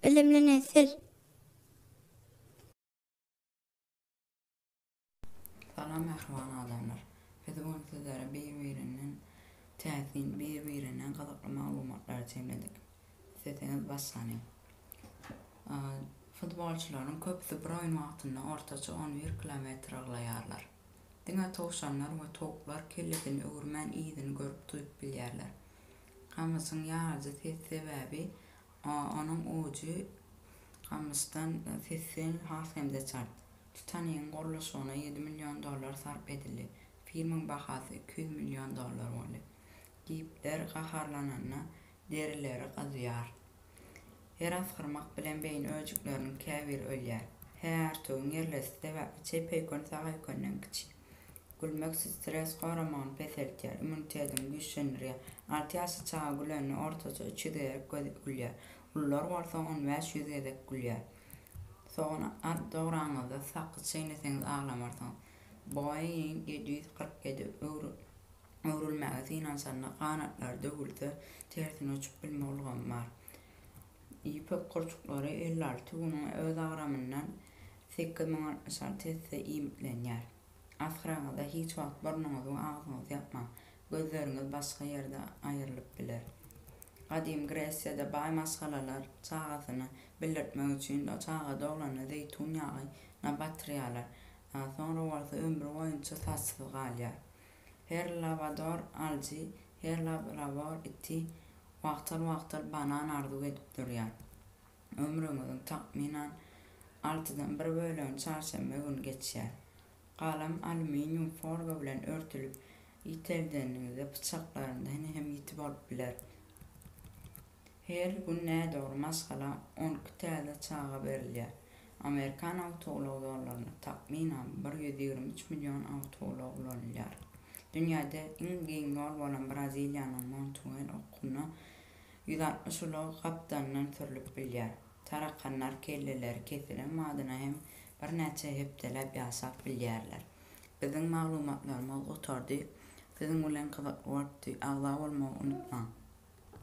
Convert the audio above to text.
Bilimli nesil. Salam mähriban adamlar. Biz bu gün sizlere bir-birinden täsin, bir-birinden gyzykly maglumatlary jemledik. Isleseniz başlanyň. Futbolçylaryň köpüsi bir oýun wagtynda ortaça on bir kilometr yrglaýarlar. Diňe towşanlar we towuklar kellesini öwürmän yzyny görüp-duýup bilýärler. Gamyşyň ýaryjy ses sebäbi onuň ujy gamyşdan sessiň has hem-de çalt. Titanigiň gurluşygyna ýedi million dollar sarp edildi. Filmiň bahasy iki ýüz million dollar boldy. Gipler gaharlananda derileri gyzýar. Her asgyrmak bilen beýin öýjükleriniň käbiri ölýär. Hä, örtügiň ýerlesi sebäpli çeýpeýkön sagaýkönden kiçi. Gülmek stres goramagyny peseldýär, immunitetini güýçlendirýär. Alty ýaşly çaga gülende ortaça üç ýüz gezek gülýär. Ulular bolsa on bäş ýüz gezek gülýär. Sogan dograňyzda sakyz çeýneseňiz aglamarsyňyz. Boeing ýedi ýüz kyrk ýedi öwrülmäge synanşanda ganatlary döwülse tersine uçup bilme ulgamy bar. Ýüpek gurçuklary elli alty günüň öz agramyndan sekiz müň altmyş alty esse iýmitlenýär. Asgyranyňyzda hiç wagt burnuňyzy we agzyňyzy ýapmaň, gözleriňiz başga ýerde aýrylyp biler. Gadymy Gresiýada baý maşgalalar çagasyny bildirtmek üçin çaga doglanda zeýtun ýagy na batyrýarlar, soňra bolsa ömri boýunça saçsyz galýar. Her labador alyjy, her labrador iti wagtal-wagtal banan arzuw edip durýar. Ömrüňiziň takmynan altydan bir bölegini çarşenbe güni geçýär. Galam alýuminium forga bilen örtülip ýiteldeniňizde pyçaklarynda hini hem ýiti bolup biler. Her gün nädogry maşgala on iki täze çaga berilýär. Amerikan awtoulag ýollarynda, takmynan, bir ýüz ýigrimi üç million awtoulag ulanylýar. Dünýäde iň giň ýol bolan Braziliýanyň Montuel okunda ýüz altmyş ulag gapdalyndan sürlüp bilýär. Tarakanlar kelleleri kesilen badyna hem birnäçe hepdeläp ýaşap bilýärler. Biziň maglumatlarymyz gutardy. Siziň bilen gyzykly bolupdy. Agza bolmagy unutmaň!